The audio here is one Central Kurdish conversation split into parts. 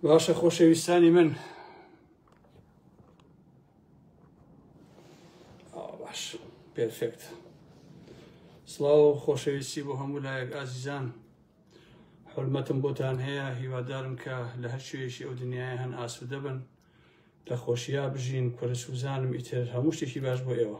باشە خۆشەویستانی من باش پێفێکت سڵاو خۆشەویستی بۆ هەموو لایەک ئازیزان حرمەتم بۆتان هەیە هیوادارم کە لە هەر شوێشی ئەو دنیای هەن ئاسوودە بن لە خۆشییا بژین کورە سوزانم ئیتر هەموو شتێکی باش بۆ ئێوە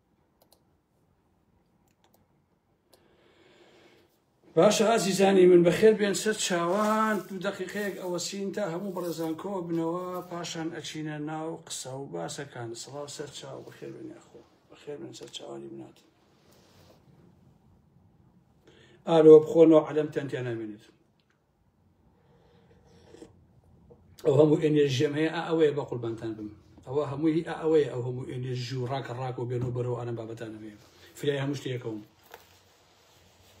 باشە ئازیزانی من بەخێر بێن سەر چاوان دوو دقیقەیەک ئەوەسین تا هەموو بەڕێزان کۆ بنەوە پاشان ئەچینە ناو قسە و باسەکان سڵاو سەر چاو بەخێر بێن یاخۆ بەخێر بێن سەر چاوانی منات ئالۆ بخۆنەوە عەلەم تەنتیان نامێنێت ئەو هەموو ئێنێژیەم هەیە ئەوەیە بە قوربانتان بم ئەوە هەمووی ئەوەیە ئەو هەموو ئێنێژ و ڕاکە ڕاک و بێن و بەرەوە ئەرم بابەتان هەیە فرای هەموو شتێکەوەم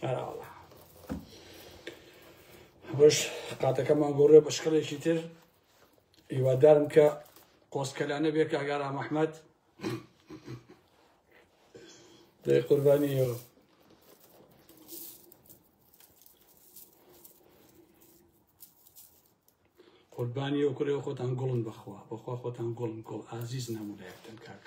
ئەراڵە بەش قاتەکەمان گۆڕێ بە شکڵێکی تر هیوادارم کە قۆسکەلانە بێ کاگارا مححمد دەی قوربانیەوە قوربانی ئەو کورەوە خۆتان گوڵن بەخوا بەخوا خۆتان گوڵن گوڵ ئازیز نامودایەکتن کاک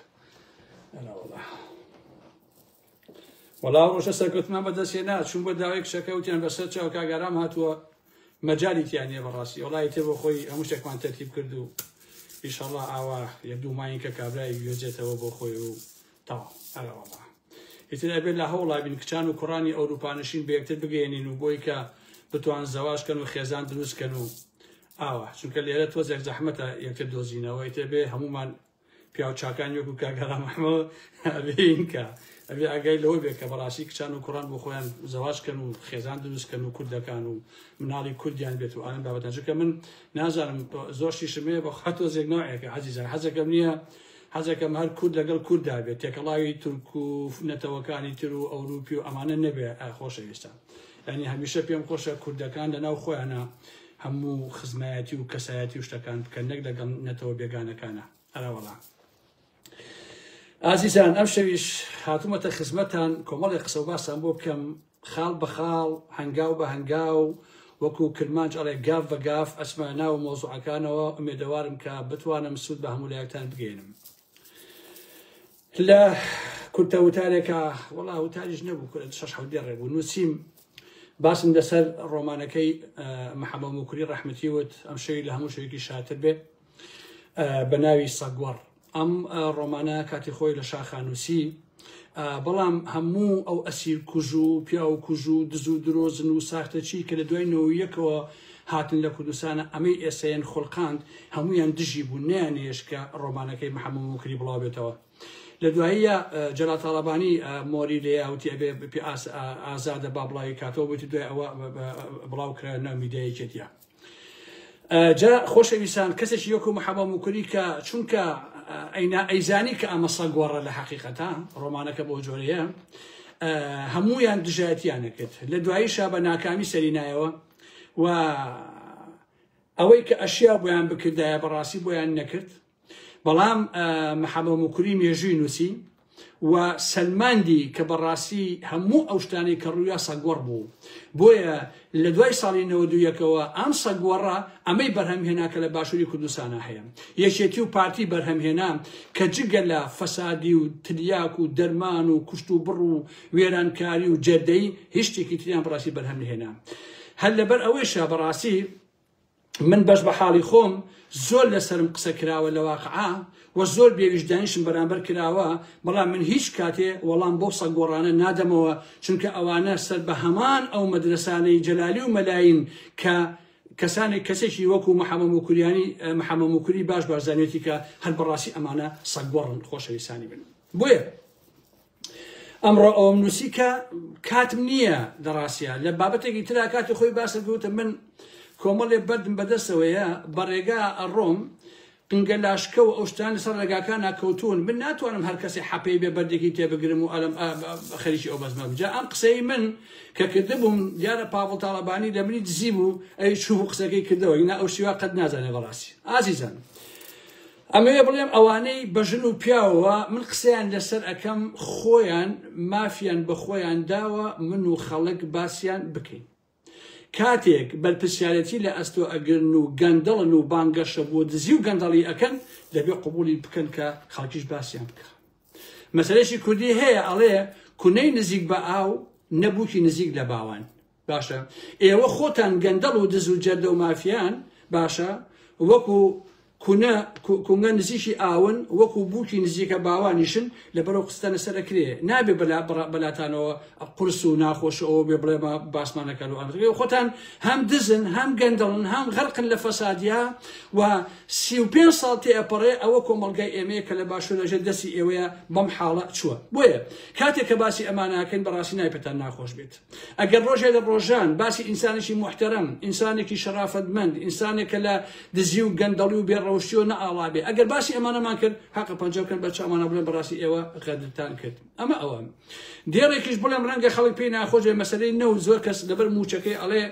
وەڵا ڕۆژە سەرکەوتمان بەدەستێ نا چون بە داوای کشەکەوتیان بەسەر چاو کاگەرام هاتووە مەجای تیانە بەڕاستی وڵی تێ بۆ خۆی هەموو شتێکمان تەرتیب کرد و ئیشەڵا ئاوا یە دووماین کە کابرای گوێجێتەوە بۆ خۆی و تەواو ئەرە وەڵا ئیتر ئەبێت لە هەوڵا بین کچان و کوڕانی ئەوروپانشین بە یەکتر بگەێنین و بۆی کە بتوان زەواجکەن و خێزان دروستکەن و ئاوا چونکە لێرە تۆزێک زەحمەتە یەکتر دۆزینەوە ئیتر بێ هەمومان پیاو چاکان وەکو کاگەرا محمەوە ئەبینکە ئەبێ ئەگەی لەوە بێت کە بەڕاستی کچان و کوڕان بۆ خۆیان زەواجکەن و خێزان دروستکەن و کوردەکان و مناڵی کوردیان بێت و ئەم بابەتەجکە من نازانم زۆرشی شمەیە بە خاتۆ زێک ناوەکە عزیزان حەزەکەم نییە حەزەکەم هەر کورد لەگەڵ کورددا بێت تێکەڵاوی تورک و نەتەوەکانی تر و ئەوروپی و ئەمانە نەبێت ئای خۆشەویستان یعنی هەمیشە پێم خۆشە کوردەکان لەناو خۆیانە هەموو خزمایەتی و کەسایەتی و شتەکان بکەن نەک لەگەڵ نەتەوە بێگانەکانە ئەراوەڵا ئازیزان ئەم شەویش هاتوومەتە خزمەتان کۆمەڵی قسە و باسان بۆ بکەم خاڵ بە خاڵ، هەنگاو بە هەنگاو، وەکو کرمانج ئەڵێ گاف بە گاف ئەچمە ناو مەوزوعەکانەوە، ئومێدەوارم کە بتوانم سوود بە هەموو لایەکتان بگەیەنم. لە کورتە وتارێکا، وەڵا وتاریش نەبوو کورە شەش حەوت دێڕێ بوو، نووسیم باسم لەسەر ڕۆمانەکەی محەمەد موکری ڕەحمەتی وت، ئەم شەوی لە هەموو شەوێکی شاتر بێ. بە ناوی سەگوەڕ ئەم ڕۆمانە کاتی خۆی لە شاخانوسی بەڵام هەموو ئەو ئەسیر کوژ و پیاو کوژ و دز و درۆزن و ساختەچی کە لە دوای نەوەیەکەوە هاتن لە کوردستانە ئەمەی ئێسەیەن خولقاند هەمویان دژی بوو نیانێش کە ڕۆمانەکەی محەممە موکری بڵاو بێتەوە لە دواییە جەلا تاالبانی مۆری لێیاوتی ئەبێ ئازادە با بڵاوی کاتەوە بێتی دوای ئەوە بڵاو کرا نامیدەیەکێتە جا خۆشەویستان کەسێکی یۆکو محەبە موکری کە چونکە ئەینا ئەیزانی کە ئەمە سە گۆڕە لە حقیقەتە ڕۆمانەکە بۆ جۆرەیە هەمویان دژایەتیانە کرد لە دواییشە بە ناکامی سەرینایەوە و ئەوەی کە ئەشیا بۆیان بکردایە بەڕاستی بۆیان نەکرد بەڵام محەمە موکری مێژووی نووسی و سەلماندی کە بەڕاستی هەموو ئەو شتانەی کە ڕوویا سەگوەڕ بوو بۆیە لە دوای ساڵی نەوەدوویەکەوە ئەم سەگوەڕە ئەمەی بەرهەم هێنا کە لە باشووری کوردستانە هەیە یەکێتی و پارتی بەرهەم هێنا کە جگە لە فەسادی و تلیاک و دەرمان و کوشت و بڕ و وێرانکاری و جەدەی هیچ شتێکی تریان بڕاستی بەرهەم هێنا هەر لەبەر ئەوەیشە بەڕاستی من بەش بە حاڵی خۆم زۆر لەسەرم قسە کراوە لە واقعا و زۆر بێویژدانیشم بەرامبەر کراوە بەڵام من هیچ کاتێ وەڵام بۆ سە گۆڕانە نادەمەوە چونکە ئەوانە سەر بە هەمان ئەو مەدرسانەی جەلالی و مەلاین کە کەسانێک کەسێکی وەکو محەمە موکوریانی محەمە موکوری باش بارزانێتی کە هەر بەڕاستی ئەمانە سەگوەڕن خۆشەویستانی بن بۆیە ئەمڕۆ ئەوەم نووسی کە کاتم نییە لە ڕاستیا لە بابەتێکی ترا کاتی خۆی باسە گوتە من کۆمەڵێ بەردم بەدەستەوەیە بە ڕێگا ئەڕۆم قنگە لاشکە و ئەوشتان لەسەر ڕێگاکان ناکەوتون من ناتوانم هەر کەسی حەپەی بێ بەردێکی تێبگرم و ئەلم خەریکی ئەو بەزمە بجا ئەم قسەی من کە کردبووم دیارە پاڤڵ تاڵەبانی لە منی دزی بوو ئەوی چوو قسەکەی کردەوە ئینا ئەو شیوا قەت نازانێ بەڕاستی ئازیزان ئەمەوێ بڵێم ئەوانەی بە ژن و پیاوەوە من قسەیان لەسەر ئەکەم خۆیان مافیان بە خۆیان داوە من و خەڵک باسیان بکەین کاتێک بەرپرسیارەتی لە ئەستۆ ئەگرن و گەندەڵن و بانگەشە بۆ دزی و گەندەڵی ئەکەن دەبێ قوبولی بکەن کە خەڵکیش باسیان بکە مەسەرێکی کوردی هەیە ئەڵێ کونەی نزیک بە ئاو نەبووکی نزیک لە باوان باشە ئێوە خۆتان گەندەڵ و دز و جەردە و مافیان باشە وەکو کونە کونگە نزیکی ئاون وەکو بووکی نزیکە باوانیشن لە بەرەو قستانە سەرەکرێ نابێ بەلا بەلاتانەوە قرس و ناخۆش ئەوە بێ بڵێمە باسمانەکەن و ئەنگڵی خۆتان هەم دزن هەم گەندەڵن هەم غەرقن لە فەسادیا و سی و پێ ساڵ تێ ئەپەڕێ ئەوە کۆمەلگای ئێمەیە کە لە باشو لەژە دەستی ئێوەیە بەم حاڵە چووە بۆیە کاتێک کە باسی ئەماناکەن بەڕاستی نایپتان ناخۆش بێت ئەگەر ڕۆژێ لە ڕۆژان باسی ئینسانێکی موحتەرەم، ئینسانێکی شەرافەتمەند، ئینسانێک کە لە دزی و گەندەڵی و بێڕەوشتییەوە نەئاڵا بێ، ئەگەر باسی ئەمانەمان کرد، هەقە پەنجە بکەن بەر چاومانەوە بڵێن بەڕاستی ئێوە غەدرتان کرد. ئەمە ئەوە. دێڕێکیش بڵێم ڕەنگە خەڵک پێی ناخۆش بێ مەسەلەی نەوت زۆر کەس لەبەر مووچەکەی ئەڵێ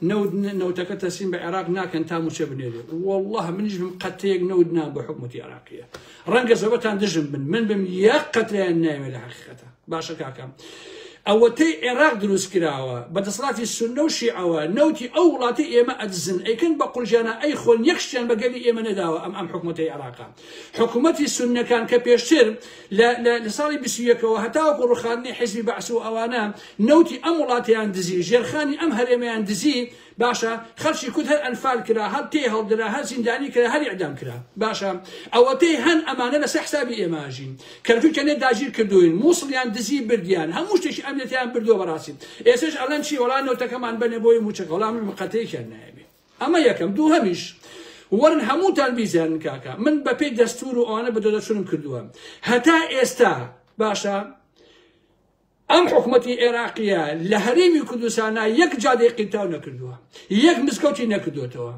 نەوت نەوتەکە تەسلیم بە عێراق ناکەن تا مووچە بنێرێ. وەڵڵاه منیش بم قەترەیەک نەوت نام بە حکومەتی عێراقییە. ڕەنگە زەبەتان دژم بن، من بم یەک قەترەیان نایەوێ لە حەقیقەتە. باشە کاکە ئەوەتەی عێراق دروست کراوە بە دەسەڵاتی سنە و شیعەوە نەوتی ئەو وڵاتی ئێمە ئەدزن ئەیکن بە قورجانە ئەی خۆن یەکشتیان بە گەلی ئێمە نەداوە ئەم ئەم حکوومەتی عێراقا حکوومەتی سنەکان کە پێشتر لە ساڵی بیسیەکەەوە هەتاوەکو ڕوخاندنی حزبی بەعس و ئەوانە نەوتی ئەم وڵاتیان دزی ژێرخانی ئەم هەرێمیان دزی باشە خەرچی کورد هەر ئەنفال کرا هەر تێ هەڵدرا هەر زیندانی کرا هەر ئیعدام کرا باشە ئەوەتەی هەن ئەمانە لەسەر حسابی ئێماژین کەرکوک کەنێ داگیر کردوین مووسڵیان دزی بردیان هەموو شتێکی ئەمنێتیان بردو بەڕاستی ئێسش ئەڵەن چی وەڵا نەوتەکەمان بەنێ بۆی موچەکە وەڵام مقەتەی کرد نایبێ ئەمە یەکەم دوو هەمیش وەرن هەمووتان بیزیان کاکە من بەپێی دەستور و ئەوانە بە دەدەچونم کردووە هەتا ئێستا باشە ئەم حکومەتی ئێراقیە لە هەرێمی کوردستانا یەک جادەی قیرتاو نەکردووە یەک مزگەوتی نەکردوێتەوە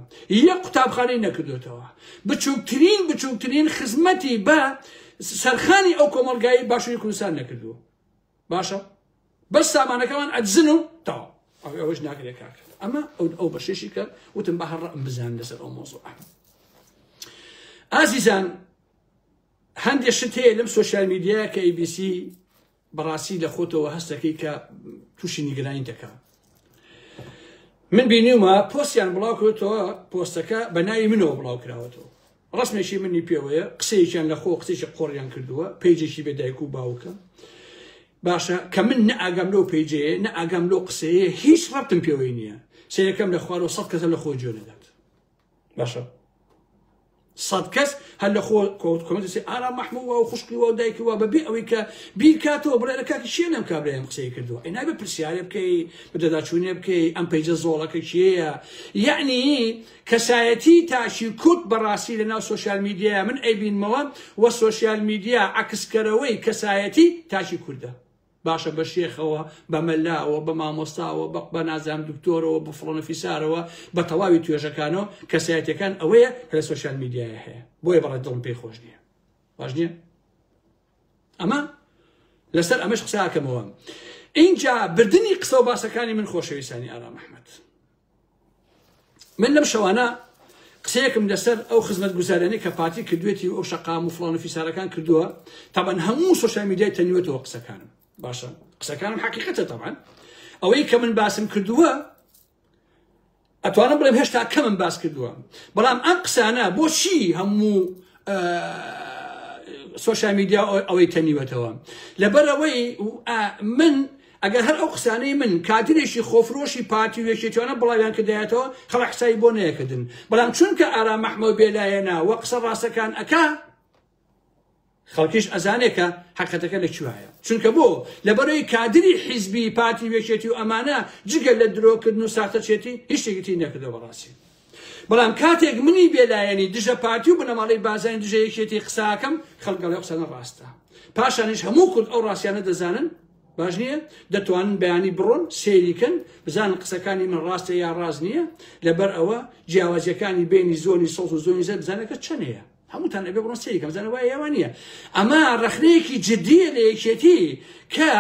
یەک قوتابخانەی نەکردوێتەوە بچووکترین بچووکترین خزمەتی بە سەرخانی ئەو کۆمەلگایی باشووری کوردستان نەکردووە باشە بەس سامانەکەمان ئەدزن و تاوا ئەوش ناکرێت کاکرد ئەمە ئەو بەشێشی کە وتم بە هەڕ بزان لەسەر ئەو مۆزۆ ئازیزان هەندێک شت هەیە لەم سوۆسیال میدیایە کە ئیبیسی بەڕاستی لە خۆتەوە هەستەکەی کە تووشی نیگرانی دەکا من بینیومە پۆستیان بڵاو کردەوە پۆستەکە بە ناوی منەوە بڵاو کراوەتەوە ڕسمێکی منی پێوەیە قسەیەکیان لە خۆ قسێکی قۆڕیان کردووە پێیجێکی بێ دایک و باوکە باشە کە من نە ئاگام لەو پێیجەیە نە ئاگام لەو قسەیە هیچ ڕەبتم پێوەی نییە سەیەکەم لە خوارەوە سەد کەسە لە خۆ جوێ نەدات باشە سەد کەس هەر لە خۆ کۆمەسی ئارا مەحموو و خوشکی و دایکی و بەبێ ئەوەی کە بیرکاتەوە بڵێ لە کاتی شیێ لەم کابرایم قسەی کردووە ئەی نابێ پرسیارێ بکەی بدەداچوونێ بکەی ئەم پەیجە زۆڵەکە کێیە یعنی کەسایەتی تاشی کورد بەڕاستی لە ناو سوۆسیال میدیایە من ئەیبینمەوە وە سوۆسیال میدیا عکسکەرەوەی کەسایەتی تاشی کوردە باشە بە شێخەوە، بە مەلاوە، بە مامۆستاوە، بە بە نازانم دکتۆرەوە، بە فڵانە فیسارەوە، بە تەواوی توێژەکانەوە، کەسایەتیەکان ئەوەیە کە لە سۆشیال میدیایە هەیە، بۆیە بەڕای دڵم پێی خۆش نییە. باش نییە؟ ئەمە لەسەر ئەمەش قسە ئاکەمەوە. ئینجا بردنی قسە و باسەکانی من خۆشەویستانی ئارام ئەحمەد. من لەم شەوانە قسەیەکم لەسەر ئەو خزمەت گوزارانی کە پارتی کردوێتی و ئەو شقام و فلان و فیسارەکان کردووە تابان هەموو سوۆشال میدیای تەنیوەتەوە قسەکانم باشە قسەکانم حقیقەتە تەبان ئەوەی کە من باسم کردووە ئەتوانم بڵێم هێشتا کەمم باس کردووە بەڵام ئەم قسانە بۆچی هەموو سوۆشال میدیا ئەوەی تەنیوەتەوە لەبەرەوەی من ئەگەر هەر ئەو قسانەی من کادرێکی خۆفرۆشی پارتی و یەکێتیانە بڵاویان کردایەتەوە خەڵک حسابی بۆ نەیەکردن بەڵام چونکە ئارام مەحمەو بێلایەنە وە قسە ڕاستەکان ئەکا خەڵکیش ئەزانێکە حقەتەکە لە کوایە چونکە بۆ لەبەرەوەی کادری حیزبی پارتی وێکێتی و ئەمانە جگە لە درۆکردن و ساختەچێتی هیچێکتی نەکردە بەڕاستی بەڵام کاتێک منی بێلایەنی دژە پارتی و بنەماڵی بازانی دژەیەکێتی قساکەم خەڵگەڵی قسەنە ڕاستە پاشانیش هەموو کورد ئەو ڕاستیانە دەزانن باش نییە دەتوانن بەیانی بڕۆن سەیریکەن بزانن قسەکانی من ڕاستە یا ڕاست نییە لەبەر ئەوە جیاوازیەکانی بینی زۆنی سەڵ و زۆنی زەر بزانەکە چەند هەیە هەمووتان ئەبێ بڕۆن سەیریکە بزانە وایە یاوان نییە ئەمە ڕخنەیەکی جددیە لە یەکێتی کە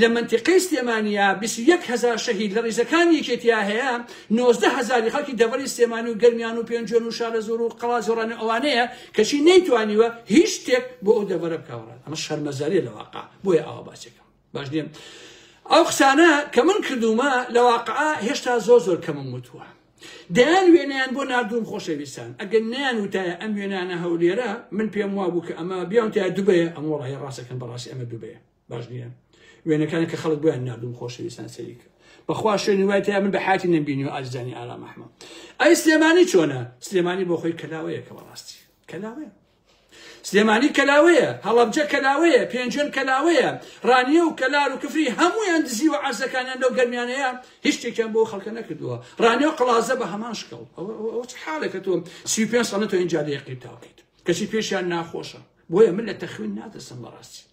لە منتیقەی سلێمانیا 21 هزار شەهید لە ڕیزەکانی یەکێتیا هەیە 90 هزاری خەڵکی دەبەری سلێمانی و گەرمیان و پێنجێن و شارە زۆر و قەڵاز و ڕەنە ئەوانەیە کەچی نەیتوانیوە هیچ شتێک بۆ ئەو دەبەرە بکەوەڕێت ئەمە شەرمەزاری لەواقع بۆیە ئاوا باسێکم باش نیە ئەو قسانە کە من کردومە لە واقعا هێشتا زۆر زۆر کەمم وتووە دەیان وێنیان بۆ نردوم خۆشەویستان ئەگەر نیان وتایە ئەم وێنانە هەولێرە من پێم وا بوو کە ئەمە بیان تا دوبەیە ئەم وڵی ڕاستەکەن بەڕاستی ئەمە دوبەیە باش نیە وێنەکانی کە خەڵک بۆیان نردوم خۆشەویستان سەری کرد بەخوا شوێنی وای تا من بە حاتی نبینی و ئازدانی ئارامەحمە ئەی سلێمانی چۆنە سلێمانی بۆ خۆی کەلاوەیە کە بەڕاستی کەلاوەیە سلێمانی کەلاوەیە، هەڵەبجە کەلاوەیە، پێنجوێن کەلاوەیە، ڕانیە و کەلار و کفری هەموویان دزیوە عەرزەکانیان لەو گەرمیانەیە هیچ شتێکیان بۆ خەڵکە نەکردووە، ڕانیە و قەڵازە بە هەمان شکڵ ئەوە چ حاڵێکە تۆ سی و پێنج ساڵە تۆ ئینجا لێ قیرتاو بکەیت کەچی پێشیان ناخۆشە بۆیە من لە تەخوین ناترسم بەڕاستی.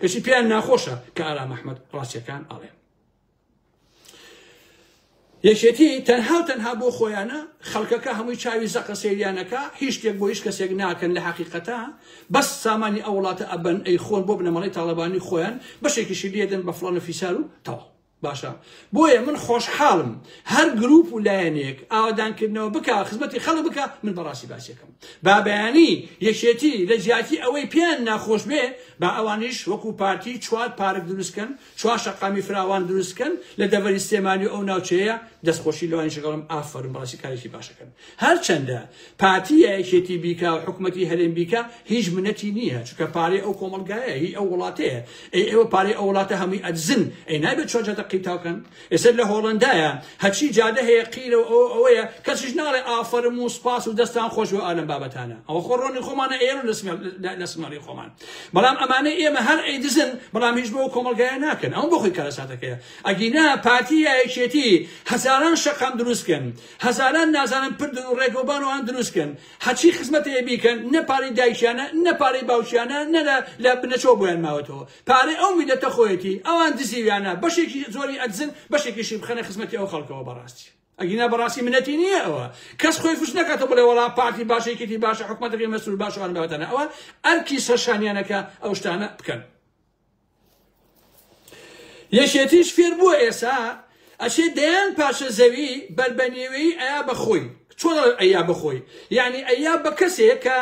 کەچی پێیان ناخۆشە کە ئارام ئەحمەد ڕاستیەکان ئەڵێ یەکێتی تەنها و تەنها بۆ خۆیانە خەڵکەکە هەمووی چاوی زەقە سریانەکە هیچ شتێک بۆ هیچ کەسێک ناکەن لە حقیقەتە بەس سامانی ئەوڵاتە ئەبەن ئەی خۆن بۆ بنەمەڵی تاالبانی خۆیان بەشێکیشی لێدن بە فلانە فیسار و تەواو باشە بۆیە من خۆشحاڵم هەر گروپ و لایەنێک ئاوادانکردنەوە بک خزمەتی خەڵک بکە من بەڕاستی باسیەکەم بابیانی یەکێتی لە جیاتی ئەوەی پێیان ناخۆش بێ با ئەوانیش وەکو پارتی چوار پارک دروستکەن چوار شەقامی فراوان دروستکەن لە دەڤەری سێمانی ئەو ناوچەیە دەستخۆشی لەوانی شگەڵم ئافرم بەڕاستی کارێکی باشەکەن هەرچەندە پارتی یا یەکێتی بیکا و حکومەتی هەرێم بیکا هیچ منەتی نییە چکە پارەی ئەو کۆمەلگایە هی ئەو وڵاتەیە ئەی ئێوە پارەی ئەو وڵاتە هەمووی ئەدزن ئەی نابێت چۆن جادە قیتاوکەن ئێستا لە هۆڵندایە هەچی جادە هەیە قیرە و ئەو ئەوەیە کەسیش ناڵێ ئافەرم و سپاس و دەستان خۆش بۆ ئالەم بابەتانە ئەوە خۆ ڕۆنی خۆمانە ئێرە لە سمەڵی خۆمان بەڵام ئەمانە ئێمە هەر ئەی دزن بەڵام هیچ بۆ کۆمەلگایە ناکەن ئەو بۆخۆی کارەساتەکەیە ئەگینا پارتی یا یەکێتی هەزاران شەقام دروستکەن هەزاران نازانن پردن و ڕێگەوبان و ئان دروست کەن حە چی خزمەتێ ی بیکەن نە پارەی دایکیانە نە پارەی باوکیانە نە لە لە بنەچەوە بۆیان ماوەتەوە پارەی ئەو میلەتە خۆیەتی ئەوان دزیویانە بەشێکی زۆری ئەدزن بەشێکیشی بخەنە خزمەتی ئەو خەڵکەوە بەڕاستی ئەگینا بەڕاستی منەتی نییە ئەوە کەس خۆی فش نەکاتە بڵێ وەڵا پارتی باشە یەکێتی باشە حکومەتەکەی مەسرور باشەوان بەوەتەنە ئەوە ئەرکی سەرشانیانەکە ئەو شتانە بکەن یەکێتیش فێر بووە ئێسا ئەچێ دەیان پارچە زەوی بەر بە نێوێی ئەیا بە خۆی چۆن ئەیا بە خۆی یعنی ئەیا بە کەسێک کە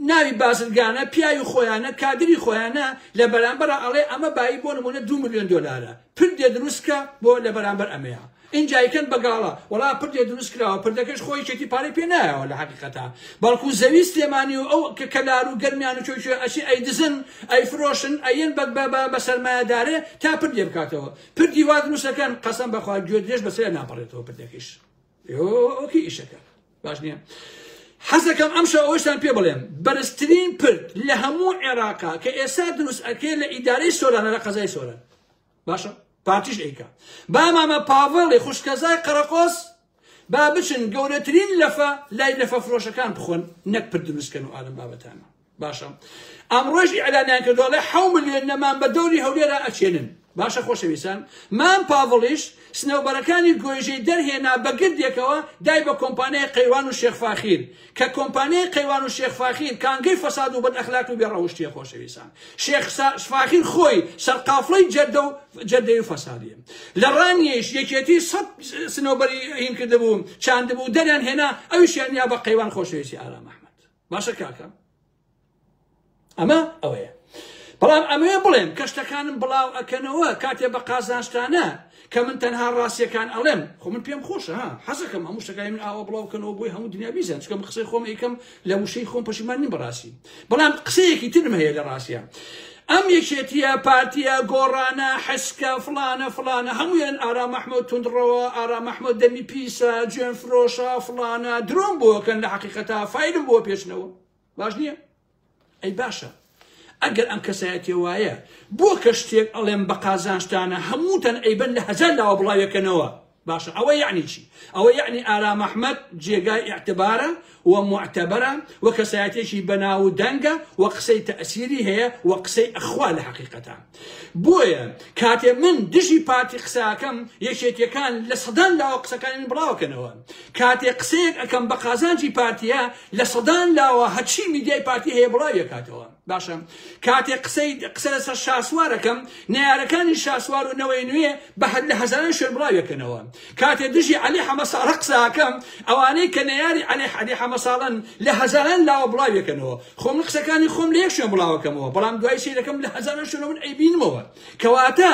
ناوی بازرگانە پیاوی خۆیانە کادری خۆیانە لە بەرامبەر ئەڵێ ئەمە بایی بۆ نمونە دو میلیۆن دۆلارە پردێ دروستکە بۆ لە بەرامبەر ئەمەیە ئینجا ئەیکەن بە گاڵە. وەڵا پردێ دروست کراوە پردەکەش خۆ یەکێتی پارەی پێ نایەوە لە هەقیقەتا بەڵکو زەوی سلێمانی و ئەو کە کەلار و گەرمیان و چۆیچۆی ئەچێ ئەیدزن ئەیفرۆشن ئەیەن بە بە بە بە سەرمایەدارێ تا پردێ بکاتەوە پردی وا دروست ئەکەن قەسەم بە خوا گوێ درێژ بە سەریا ناپەڕێتەوە پردەکەیش ئۆکی ئیشەکە باش نییە حەزەکەم ئەمشە ئەوەشتان پێ بڵێم بەرزترین پرد لە هەموو عێراقا کە ئێستا دروست ئەکرێت لە ئیدارەی سۆرانە لە قەزای سۆران باشە پارتیش ئەیکا با مامە پاڤڵی خوشکەزای قەرەقۆس با بچن گەورەترین لەفە لای لەفە فرۆشەکان بخۆن نەک پر دروستکەن و ئالم بابەتانە باشە ئەمڕۆژ ئیعلانیان کردوڵێ حو ملیۆن نەمان بە دەوری هەولێرا ئەچێنن باشە خۆشەویستان مام پاڤڵیش سنەوبەرەکانی گۆیژەی دەرهێنا بە گردێکەوە دای بە کۆمپانیای قەیروان و شێخ فاخیر کە کۆمپانیای قەیروان و شێخ فاخیر کانگەی فەساد و بەد ئەخلاقی و بێ ڕەوشتیە خۆشەویستان شێخ فاخیر خۆی سەرقافڵەی جەردە و جەردەی و فەسادیە لە ڕانیەیش یەکێتی سەد سنەوبەری هین کردبوو چاندبوو دەریان هێنا ئەویشیان یا بە قەیروان خۆشەویستی ئارام ئەحمەد باشە کاکە ئەمە ئەوەیە بەڵام ئەمەوێ بڵێم کە شتەکانم بڵاو ئەکەنەوە کاتێ بە قازانشتانە کە من تەنها ڕاستیەکان ئەڵێم خۆ من پێم خۆشە حەزەکەم هەموو شتەکانی من ئاوا بڵاوکەنەوە بۆی هەموو دنیا بیزان چکەم قسەی خۆم یکەم لە وشەی خۆم پەشیمان نیم بەڕاستی بەڵام قسەیەکی ترم هەیە لە ڕاستە ئەم یەکێتیە پارتیە گۆڕانە حسکە فلانە فلانە هەمویان ئارام مححمد تونندڕەوە ئارام مححمد دەمی پیسە جوێن فرۆشە فلانە درۆم بۆکەن لە حقیقەتا فیلم بۆ پێشنەوە باش نییە ئەی باشە ئەگەر ئەم کەسایەتێ وایە بۆ کە شتێک ئەڵێم بە قازانشتانە هەمووتەن ئەیبەن لە هەزار لاوە بڵاوەکەنەوە باشە ئەوە یعنی چی ئەوە یعنی ئارام ئەحمد جێگای اعتبارە و معتبرە و کەسایەتێکی بەناو و دەنگە و قسەی تەسیری هەیە و قسەی ئەخوا لە حقیقەتە بۆیە کاتێ من دژی پارتی قساکەم یەکێتیەکان لە سەدان لاوە قسەکانی من بڵاوکەنەوە کاتێ قسەیەک ئەەکەم بە قازانجی پارتیە لە سەدان لاوە هەچی میدیای پارتی هەیە بڵاویەکاتەوە باشە کاتێ قسەی قسە لەسەر شاسوارەکەم نارەکانی شاسوار و نەوەی نوێ بە هەر لە هەزاران شوێن بڵاویەکەنەوە کاتێ دژی عەلی حەمەساڵە قسەئەکەم ئەوانەی کە نەیاری عەلی عەلی حەمەساڵەن لە هەزاران لاوە بڵاویەکەنەوە خۆ من قسەکانی خۆم لە یەک شوێن بڵاوەکەمەوە بەڵام دوای سەیرەکەم لە هەزاران شوێنەوە من ئەیبینمەوە کەواتە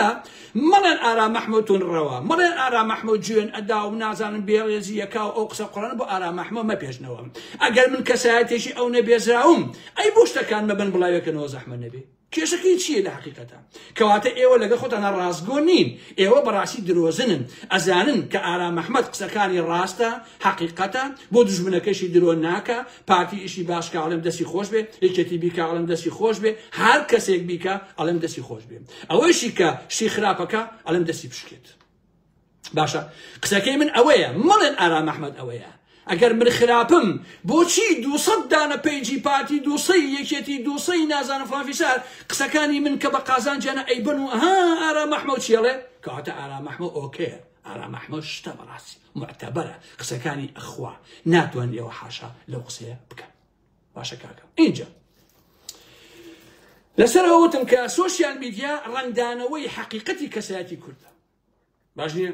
مەڵێن ئارا مەحموود تون ڕەوە مەڵێن ئارا مەحموود جوێن ئەدا و نازانم بێڕێزی یەکا و ئەو قسە قڕانە بۆ ئارا مەحموود مەپێشنەوە ئەگەر من کەسایەتێکی ئەو نەبێزراوم ئەی بۆ شتەکان مەبن بڵاوێکەنەوە زەحمە نەبێ کێشەکەی چیە لە حەقیقەتا؟ کەواتە ئێوە لەگەڵ خۆتانا ڕاستگۆ نین ئێوە بەڕاستی درۆزنن ئەزانن کە ئارام ئەحمەد قسەکانی ڕاستە حەقیقەتە بۆ دوژمنەکەشی درۆ ناکا پارتی ئیشی باش کە ئەڵێم دەستی خۆش بێ یەکێتی بیکە ئەڵێم دەستی خۆش بێ هەر کەسێک بیکە ئەڵێم دەستی خۆش بێ ئەوەیشی کە شتی خراپەکە ئەڵێم دەستی بشکێت باشە قسەکەی من ئەوەیە مەڵێن ئارام ئەحمد ئەوەیە ئەگەر من خراپم بۆچی دوسەد دانە پەیجی پارتی دوسەی یەکێتی دوسەی نازانە فلانفیسار قسەکانی من کە بە قازانجیانە ئەیبن و ها ئارام ئەحمەد چێڵێ کەواتە ئارام ئەحمە ئۆکەیە ئارام ئەحمە شتە بەڕاستی معتەبەرە قسەکانی ئەخوا ناتوان لێەوە حاشا لەو قسەیە بکەن باشە کاکە اینجا لەسەر ئەوتم کە سوۆسیال میدیا ڕنگدانەوەی حەقیقەتی کەسایەتی کوردە باش نییە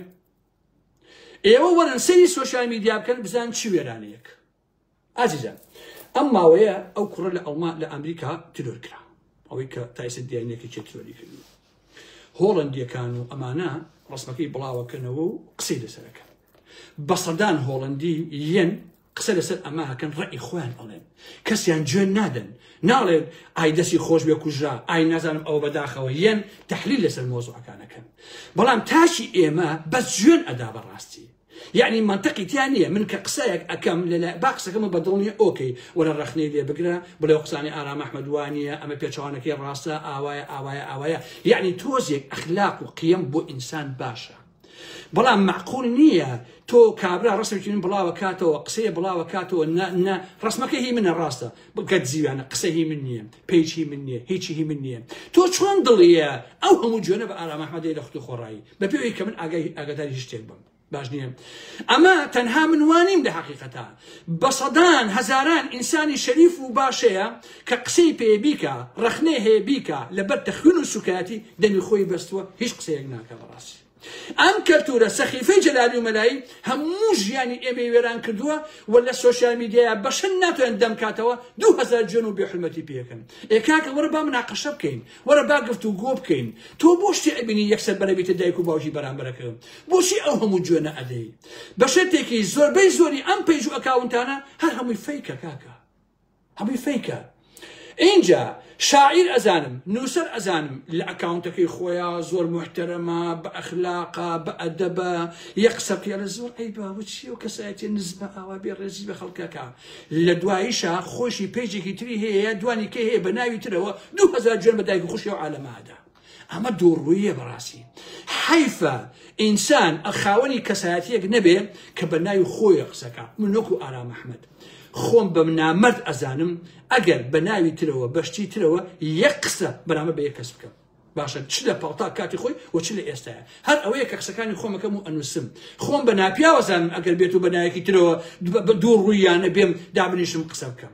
ئێوە وەرن سەری سوۆسیال میدیا بکەن بزان چی وێرانەیەک ئازیزان ئەم ماوەیە ئەو کوڕە لە ئەڵما لە ئەمریکا ترۆر کرا ئەوەی کە تایسە دیانەکە چێت ترۆری کرد هۆڵندیەکان و ئەمانە ڕسمەکەی بڵاوەکەنەوە و قسەی لەسەرەکە بە سەدان هۆڵندی یەن قسە لەسەر ئەمە ئەکەن ڕەئی خۆیان ئەڵێن کەسیان جوێن نادەن ناڵێن ئای دەسی خۆش بێ کوژرا ئای نازانم ئەوە بەداخەوە یەن تحلیل لەسەر مۆزوعەکانەکەن بەڵام تاشی ئێمە بەس جوێن ئەدا بەڕاستی یعنی منطقی تیا نییە من کە قسەیەک ئەەکەم لەلا با قسەکەمە بەدڵنیە ئۆکەی وەرە ڕخنەی لێ بگرە بڵێ قسانی ئارام ئەحمەدوانە ئەمە پێچوانەکەی ڕاستە ئاوایە ئاوایە ئاوایە یعنی تۆزێک ئەخلاق و قیم بۆ ئینسان باشە بەڵام مەعقول نییە تۆ کابرا ڕسمێکی من بڵاوە کاتەوە قسەیە بڵاوە کاتەوە نە ڕسمەکە هی منە ڕاستە بگەت زیوانە قسە هی من نییە پێچی من نییە هیچی هی من نییە تۆ چۆن دڵیە ئەو هەموو جوێنە بە ئارامەحمەدی لە خودی خۆڕایی بە پێوەی کە من ئاگای ئاگاداری هیچ شتێک بم باش نییە ئەمە تەنها من وانیم لە حقیقەتە بە سەدان هەزاران ئینسانی شەریف و باشەیە کە قسەی پێبیکە ڕخنەی هەیە بیکە لەبەر تەخوین و سوکایەتی دەمی خۆی بەستووە هیچ قسەیەک ناکە بەڕ ئەم کەلتورە سەخیفەی جەلالی و مەلایی هەموو ژیانی ئێمەی وێران کردووە و لە سۆشیال میدیایا بەشەن ناتوانن دەمکاتەوە دوو هەزار جوێن و بێحورمەتی پێکەن ئێ کاکە وەرە با مناقەشە بکەین وەرە با گفتوگۆ بکەین تۆ بۆ شتی ئەبینی یەکسەر بەرەبیتە دایک و باوکی بەرامبەرەکە بۆچی ئەو هەموو جوێنە ئەدەی بەشێتێکی زۆربەی زۆری ئەم پەیج و ئەکاونتانە هەر هەمووی فەیکە کاکە هەمووی فەیکە ئینجا شاعیر ئەزانم نووسەر ئەزانم لە ئەکاونتەکەی خۆیا زۆر محتەرەمە بە ئەخلاقا بە ئەدەبە یە قسە پێ لە زۆر ئەی باوچی و کەسایەتی نزمە ئاوا بێ ڕێزی بە خەڵکەکە لە دواییشە خۆشی پێجێکی تری هەیە دوانی کە هەیە بە ناوی ترەوە دوهزار جوێن بە دایک خوشی و عالەمادا ئەمە دووڕووییە بەڕاستی حەیفە ئینسان خاوەنی کەسایەتیەک نەبێ کە بە ناوی خۆیە قسەکە من نۆکو ئارام ئەحمد خۆم بەم نامەرد ئەزانم ئەگەر بە ناوی ترەوە بەشتی ترەوە یەک قسە بەرامە بە یە کەس بکەم باشە چ لە پاڵتا کاتی خۆی و چ لە ئێستاە هەر ئەوەیە کە قسەکانی خۆمەکەم و ئەنووسم خۆم بە ناپیاوەزانم ئەگەر بێت و بە نایەکی ترەوە دوو ڕوویانە بێم دابنیشم قسە بکەم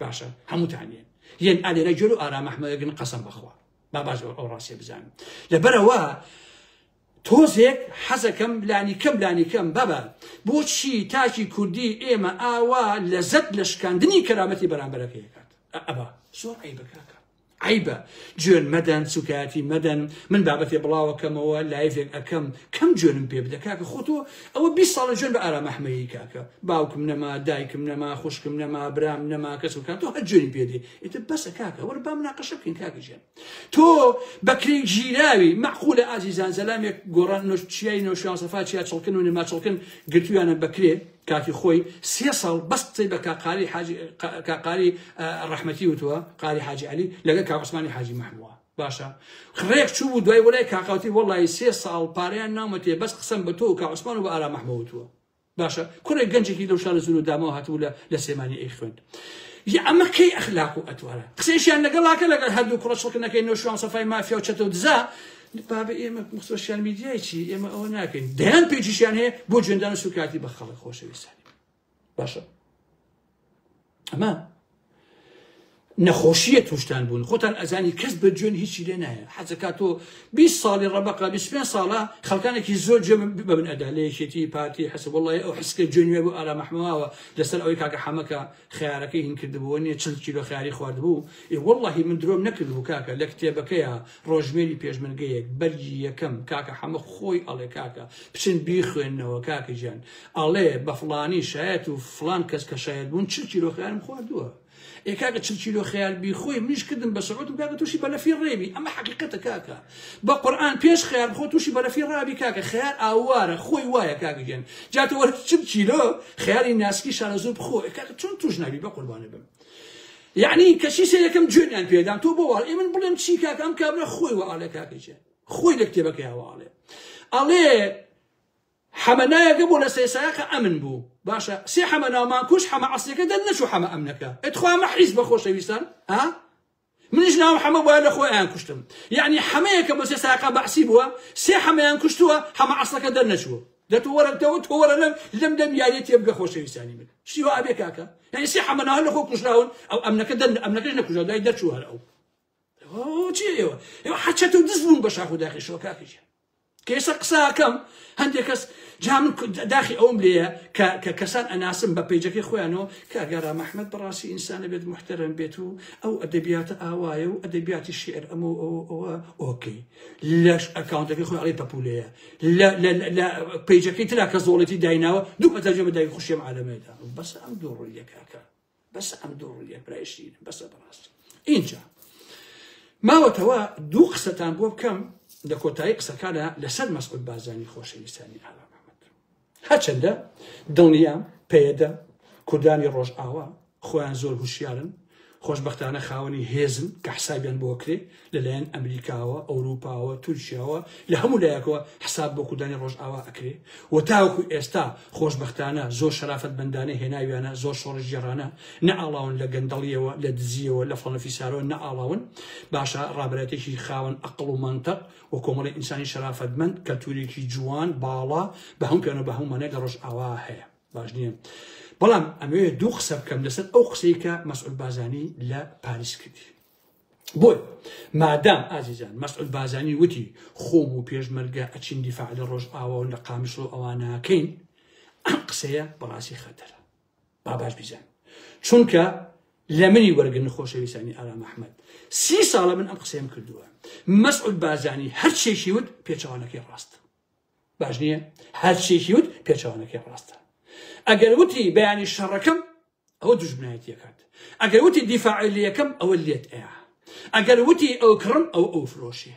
باشە هەمووتان یەن یەن ئالێرە جۆر و ئارام ئەحمەگن قەسم بخوا با باش ئەو ڕاستێ بزانم لەبەرەوە تۆزێک حەزەکەم لانی کەم لانی کەم بابە بۆچی تاکی کوردی ئێمە ئاوا لەزەت لە شکاندنی کەرامەتی بەرامبەرەکەیکات ئەبا سۆ ئەی بکاکە عەیبە جوێن مەدەن سوکایەتی مەدەن من بابەتێ بڵاوەکەمەوە لایڤێک ئەکەم کەم جوێنم پێ بدە کاکە خۆتۆ ئەوە بی ساڵە جوێن بە ئارام ئەحمەیی کاکە باوکم نەما دایکم نەما خوشکم نەما برام نەما کەس و کاتۆ هەر جوێنی پێ دێ ئیتر بەسە کاکە وەر بام ناقەشە بکەین کاکە جێن تۆ بەکرین ژیراوی مەقولە ئازیزان زەلامێک گۆڕان نوش چیای نوشیان سەفا چیا چڵکن و نما چڵکن گرتویانە بەکرێ کاتی خۆی سێ ساڵ بەس قسەی بە کاک قاری حاجی کاک قاری ڕەحمەتی وتووە قاری حاجی عەلی لەگەڵ کاک عوسمانی حاجی مەحمووە باشە ڕێک چوو بوو دوای وەلای کاکاوتی وەڵی سێ ساڵ پاریان نامەتێ بەس قسەم بە تۆ کە عوسمان و بە ئارا مەحمووە وتووە باشە کوڕێک گەنجێکی لەو شارە زور و دامەوە هاتبوو لە لە سێمانی ئەی خوێند ئەمە کەی ئەخلاق و ئەتوارە قسەیشیان لەگەڵاکە لەگەڵ هەردوو کوڕە شڵکنەکەی نۆشوان سەفای مافیا و چەتە و دزە بابە ئێمە سۆشیال میدیای چی ئێمە ئەوە ناکەین دەیان پێچیشیان هەیە بۆ جوێندان و سوکاتی بە خەڵک خۆشەویستانی باشە ئەمە نەخۆشیە توشتان بوون خۆتان ئەزانی کەس بە جوێن هیچی لێ نایە حەزەکە تۆ 20 ساڵی ڕەبقا 25 ساڵە خەڵکانێکی زۆر جێ ببن ئەدا لە یەکێتی پارتی حەسە وڵی ئەو حسکە جوێنێ بوو ئارا مەحمەوە لەسەر ئەوەی کاکە حەمەکە خیارەکەی هین کردبووە نیە چل کیلۆ خیاری خواردبوو ی وڵی من درۆم نەکردبوو کاکە لە کتێبەکەیە ڕۆژژمێری پێشمەرگەیەک بەرگی یەکەم کاکە حەمە خۆی ئەڵێ کاکە بچن بیخوێننەوە کاکە گیان ئەڵێ بە فڵانی شایەت و فڵان کەس کە شایەت بوون چل کیلۆ خیارم خواردووە ئێ کاکە چل کیلۆ خیار بیخۆی منیش کردم بە سەعوت و کاکە تووشی بەلەفی ڕێبی ئەمە حەقیقەتە کاکە بە قورئان پێش خیار بخۆ تووشی بەلەفی ڕابی کاکە خیار ئاوارە خۆی وایە کاکە گیان جاتە وەرە چل کیلۆ خیاری ناسکی شارەزوور بخۆ ئێ کاکە چۆن تووش نابی بە قوربانێ بم یەعنی کەچی سەیرەکەم جوێنیان پێدان تۆ بۆ واڵ ئێمن بڵێم چی کاکە ئەم کابرا خۆی وە ئاڵێ کاکەچێ خۆی لە کتێبەکەیەوە ئاڵێ ئەڵێ حەمەنایەکە بۆ لە سێسایەکە ئەمن بوو باشە سێ حەمەنامان کوش حەمە عسلەکە دەن نەچوو حەمە ئەمنەکە ئەتخوا مە حیز بە خۆشەویستان ها منیش ناوم حەمە بوایە لە خۆ ئەیان کوشتم یەعنی حەمەیە کە بۆ سێ ساقە بەعسی بووە سێ حەمەیان کوشتووە حەمە عەسڵەکە دەرنەچووە دە تۆ وەرە تەوە تۆ وەرە لەم لەم دەم یاریە تێبگە خۆشەویستانی من شتی وا ئەبێ کاکە یعنی سێ حەمە ناوە لە خۆ کوژراون ئەو ئەمنەکە دەر ئەمنەکەش نەکوژا دوای دەرچوو هەر ئەو چی ئێوە ئێوە حەچەت و دز بوون بە شاخ و داخی شۆکاکەژیان کەیسەر قسە ئەکەم هەندێک کەس جا من داخی ئەوم لێیە کە کە کەسان ئەناسم بە پێیجەکەی خۆیانەوە کە گەرا مححمد بەڕاستی ئینسانە بێت محتەرم بێت و ئەو ئەدەبیاتە ئاوایە و ئەدەبیاتی شعر ئەمە ئەوە ئۆکەی لەش ئەکاونتەکەی خۆی ئەڵی پەپولەیە لە پێیجەکەی ترا کە زۆڵێتی دایناوە دوو پەتەجە بەدای خوشیێم عالەمێدا بەس ئەم دوو ڕۆیەکەکە بەسە ئەم دوو ڕوویە برای شیرینم بەسە بەڕاستی ئینجا ماوەتەوە دوو قسەتان بۆ بکەم لە کۆتایی قسەکانە لەسەر مەسعود بازانی خۆشەویستانی ئاوا محمد هەچەندە دڵنیام پێدە کوردانی ڕۆژ ئاوا خۆیان زۆر هوشیارن خۆشببختانە خاوەنی هێزن کە حسابیان بۆ کرێ لەلایەن ئەمریکاوە، ئەوروپاوە، تورکیاوە، لە هەموو لایەکەوە حساب بۆ کوردانی ڕۆژئاوا ئەکرێ و تاوەکو ئێستا خۆشبەختانە زۆر شەرافەتمەندانە هێناویانە، زۆر شۆڕشگێڕانە نەئاڵاون لە گەندەڵییەوە، لە دزییەوە، لە فڵان و فیسارەوە نەئاڵاون. باشە ڕابەرایەتێکی خاوەن ئەقڵ و مەنتق و کۆمەڵی ئینسانی شەرافەتمەند، کەلتوورێکی جوان، باڵا، بە هەموو پێانە و بە هەموو مانای لە ڕۆژئاوا هەیە. باش نییە. بەڵام ئەمەوێ دوو قسە بکەم لەسەر ئەو قسەی کە مەسعود بازانی لە پاریس کردی. بۆی مادام ئازیزان مەسعود بازانی وتی خۆم و پێشمەرگە ئەچین دیفاع لە ڕۆژئاوا و لە قامشڵۆ ئەوانەکەین ئەم قسەیە بەڕاستی خەتەرە با باش بیزان چونکە لە منی وەرگن خۆشەویستانی ئارام ئەحمد سی ساڵە من ئەم قسەیەم کردووە مەسعود بازانی هەرچێکی وت پێچوانەکەی ڕاستە باش نییە هەرچێکی وت پێچوانەکەی ڕاستە ئەگەر وتی بەیانی شەڕەکەم ئەوە دژمنایەتیەکات ئەگەر وتی دیفاعلیەکەم ئەوە لێت ئەیە ئەگەر وتی ئەو کڕم ئەو ئەو فرۆشێ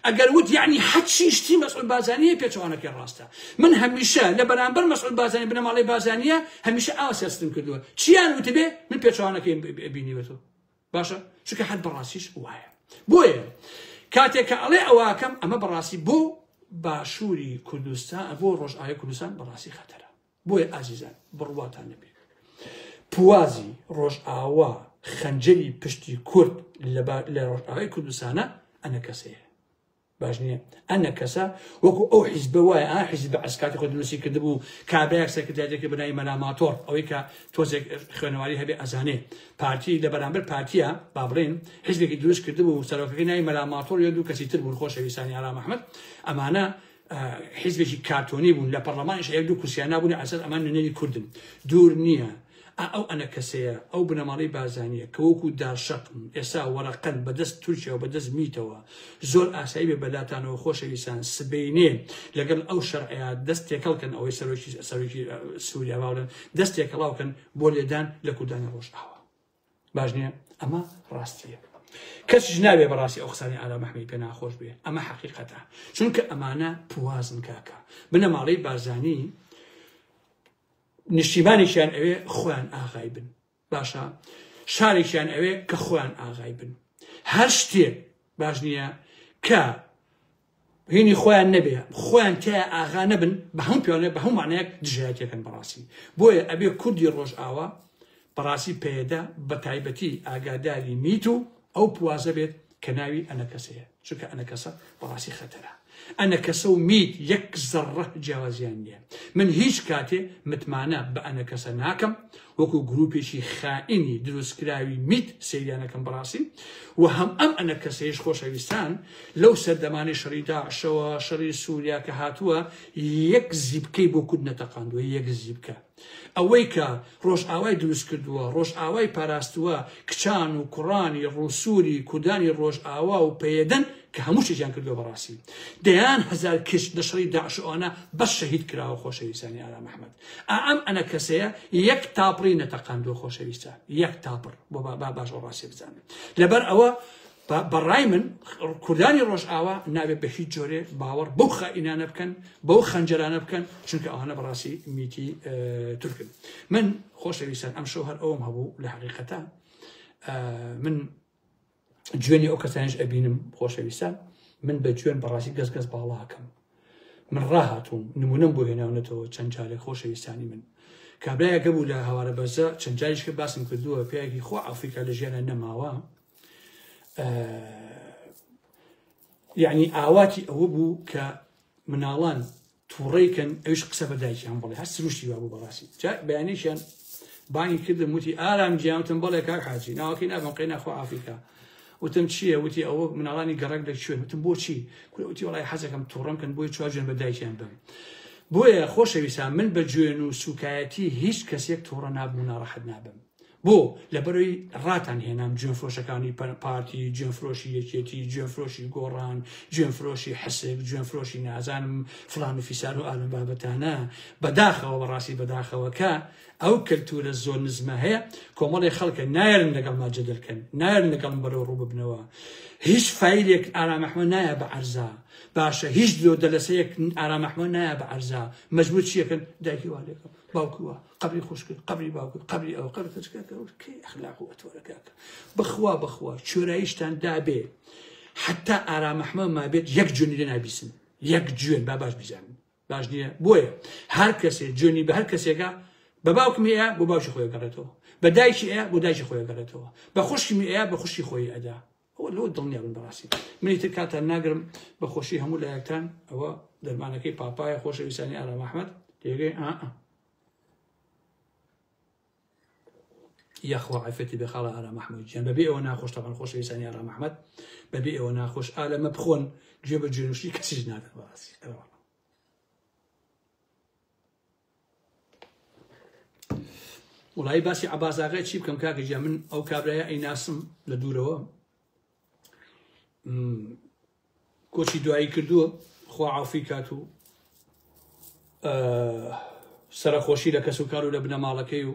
ئەگەر وت یعنی حەچی شتی مەسعود بازانیە پێچوانەکەی ڕاستە من هەمیشە لە بەرامبەر مەسعود بازانی بنەماڵی بازانیە هەمیشە ئاوا سیاستم کردووە چیان وتبێ من پێچوانەکەی بینیوەتەوە باشە چکە حەد بەڕاستیش وایە بۆیە کاتێک کە ئەڵێ ئەوواکەم ئەمە بەڕاستی بۆ باشووری کوردستان بۆ ڕۆژئاوی کوردستان بەڕاستی خەتەرە بۆیە ئازیزان بڕواتان نەبێ پوازی ڕۆژئاوا خەنجەری پشتی کورد لە ڕۆژئاوای کوردستانە ئەنە کەسەیە باش نییە ئەنە کەسە وەکو ئەو حیزبە وایە ئا حیزب بە ئەسکاتی خۆ دروستی کردبوو کابراەک سەرکردایەتێکی بنای مەلاماتۆر ئەوەی کە تۆزێک خوێنەواری هەبێ ئەزانێ پارتی لە بەرامبەر پارتیە با بڵێن حزبێکی دروست کردبوو سەرۆکەکەی نای مەلاماتۆر یە دوو کەسی تر بوون خۆشەویستانی ئارام ئەحمد ئەمانە حزبێکی کارتۆنی بوون لە پەرلەمانش هەیە دوو کورسیان نابوون ئەسەر ئەمان نوێنەری کوردن دوور نییە ئا ئەو ئەنەکەسەیە، ئەو بنەماڵەی بارزانییە کە وەکوو دارشەقن، ئێستا وەرەقەن بە دەست تورکیا و بە دەست میتەوە. زۆر ئاسایی بێ بە لاتانەوە خۆشەویستان، سبەینێ لەگەڵ ئەو شەرعەیا دەست تێکەڵ کەن، ئەوەی سەرۆکی، سەرۆکی سووریا وا بڵێن، دەست تێکەڵاو کەن بۆ لێدان لە کوردانی ڕۆژئاوا. باش نییە؟ ئەمە ڕاستییە. کەسیش نابێ بە ڕاستی ئەو قسانەی ئارام ئەحمەدی پێ ناخۆش بێ. ئەمە حەقیقەتە. چونکە ئەمانە پوازن کاکە. بنەماڵەی بارزانی نیشتیمانێکیان ئەوێ خۆیان ئاغای بن باشە شارێکیان ئەوێ کە خۆیان ئاغای بن هەر شتێک باش نییە کە هینی خۆیان نەبێ خۆیان تیا ئاغا نەبن بە هەم پیانێ بە هەموانەیەک دژایەتەکەن بەڕاستی بۆیە ئەبێ کوردی ڕۆژ ئاوا بەڕاستی پێدا بە تایبەتی ئاگاداری میت و ئەو پوازە بێت کە ناوی ئەنە کەسەیە چونکە ئەنەکەسە بەڕاستی خەتەرە ئەنەکەسە و میت یەک زەڕە جیاوازیان نییە من هیچ کاتێ متمانە بە ئەنەکەسە ناکەم وەکو گروپێکی خائینی دروستکراوی میت سریانەکەم بەڕاستی و هەم ئەم ئەنەکەسەیش خۆشەویستان لەو سەردەمانی شەڕی داعشەوە شەڕی سووریا کە هاتووە یەک زیبکەی بۆ کورد نەتەقاندووە یەک زیبکە ئەوەی کە ڕۆژئاوای دروست کردووە، ڕۆژئاوای پاراستووە، کچان و کوڕانی ڕووسووری کوردانی ڕۆژئاوا و پەیەدەن کە هەموو شتێکیان کردووە بەڕاستی. دەیان هەزار کچ لە شەڕی داعش و ئەوانە بەس شەهید کراوە خۆشەویستانی ئارام ئەحمەد. ئا ئەم ئەنە کەسەیە یەک تاپڕی نەتەقاندووە خۆشەویستان. یەک تاپڕ. با باش ئەو ڕاستیە بزانن. لەبەر ئەوە بە ڕای من کوردانی ڕۆژئاوا نابێت بە هیچ جۆرێ باوەڕ بەو خائینانە بکەن بەو خەنجەرانە بکەن چونکە ئەوانە بەڕاستی میتی تورکن من خۆشەویستان ئەم شەو هەر ئەوم هەبوو لە حقیقەتە من جوێنی ئەو کەسانش ئەبینم خۆشەویستان من بە جوێن بەڕاستی گەس گەس باڵاکەم من ڕاهاتوم نمونم بۆ هێناونەتەوە چەند جارێک خۆشەویستانی من کابراایەکە بوو لە هەوارە بەزە چەند جاریشکە باسم کردووە پیاکی خۆ ئەفریقا لە ژیانە نەماوە یعنی ئاواتی ئەوە بوو کە مناڵان تووڕێکن ئەوش قسە بە دایکیان بڵێ هەر سروشتی وا بوو بەڕاستی جا بەیانێکیان بانگی کردم وتی ئارام جیانتم بەڵێ کاک حاجی ناوەکەی نابم قەی ناخۆ ئافریکا وتم چییە وتی ئەوە مناڵانی گەڕک دەکوێن وتم بۆچی کوتی وڵی حەزەکەم تووڕم کەن بۆی چواجوێن بە دایکیان بم بۆیە خۆشەویستان من بە جوێن و سوکایەتی هیچ کەسێک تووڕە نابوو ناڕەحەت نابم بۆ؟ لەبەرەوەی ڕاتان هێنام جوێنفرۆشەکانی پارتی، جوێنفرۆشی یەکێتی، جوێنفرۆشی گۆڕان، جوێنفرۆشی حسک، جوێنفرۆشی نازانم فلان و فیسار و ئالم بابەتانە، بەداخەوە بەڕاستی بەداخەوە کە ئەو کەلتورە زۆر نزمە هەیە، کۆمەڵی خەڵکە نایەرن لەگەڵما جەدەلکەن، نایەرن لەگەڵم بەرەو ڕوو ببنەوە. هیچ فایلێک ئارام ئەحمەد نایە بە عەرزا. باشە هیچ درۆ دەلەسەیەک ئارام ئەحمەد نایە بە عەرزا. مەجبور چیەکەن دایکی وا لێکەم، باوکی وا. قبری خوشکت قبری باوکت قبری ئەو قەرتەکەی ئەخلاق و ئەتۆرەکەکە بخوا بخوا چۆراییشتان دابێ حتا ئارامەحمە مابێت یەک جونی لێ نابیسن یەک جوێن با باش بزانن باش نییە بۆیە هەر کەسێ جوێنی بە هەر کەسێکە بە باوکم ئەیە بۆ باوکی خۆی گەڕێتەوە بە دایکی ئەیە بۆ دایکی خۆی گەڕێتەوە بە خوشکمی ئەیە بە خوشکی خۆی ئەدا ئەوە لەوە دڵنیا بن بەڕاستی منی تر کاتان ناگرم بە خۆشی هەموو لایەکتان ئەوە دەرمانەکەی پاپایە خۆشەویستانی ئارام ئەحمەد تێگەی ئا یاخوا عفێتی بێ خاڵە ئارام ئەحمەد گیان بەبێ ئەوە ناخۆش تەمان خۆشەویستانی ئارام ئەحمەد بەبێ ئەوە ناخۆش ئالەمە بخۆن گوێ بە جوێنوشی کەسیش نادەن بەڕاستی ئەوە وڵی باسی عبازاغای چی بکەم کاکە جا من ئەو کابراە ئەی ناسم لە دوورەوە کۆچی دوایی کردووە خوا عافی کات و سەرخۆشی لە کەس و کار و لە بنەماڵەکەی و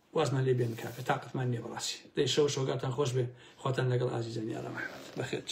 وازمان لێ بێنن کاکە تاقەتمان نیە بەڕاستی دەی شەو شۆگاتان خۆش بێ خواتان لەگەڵ ئازیزانی ئارام ئەحمەد بەخێرچ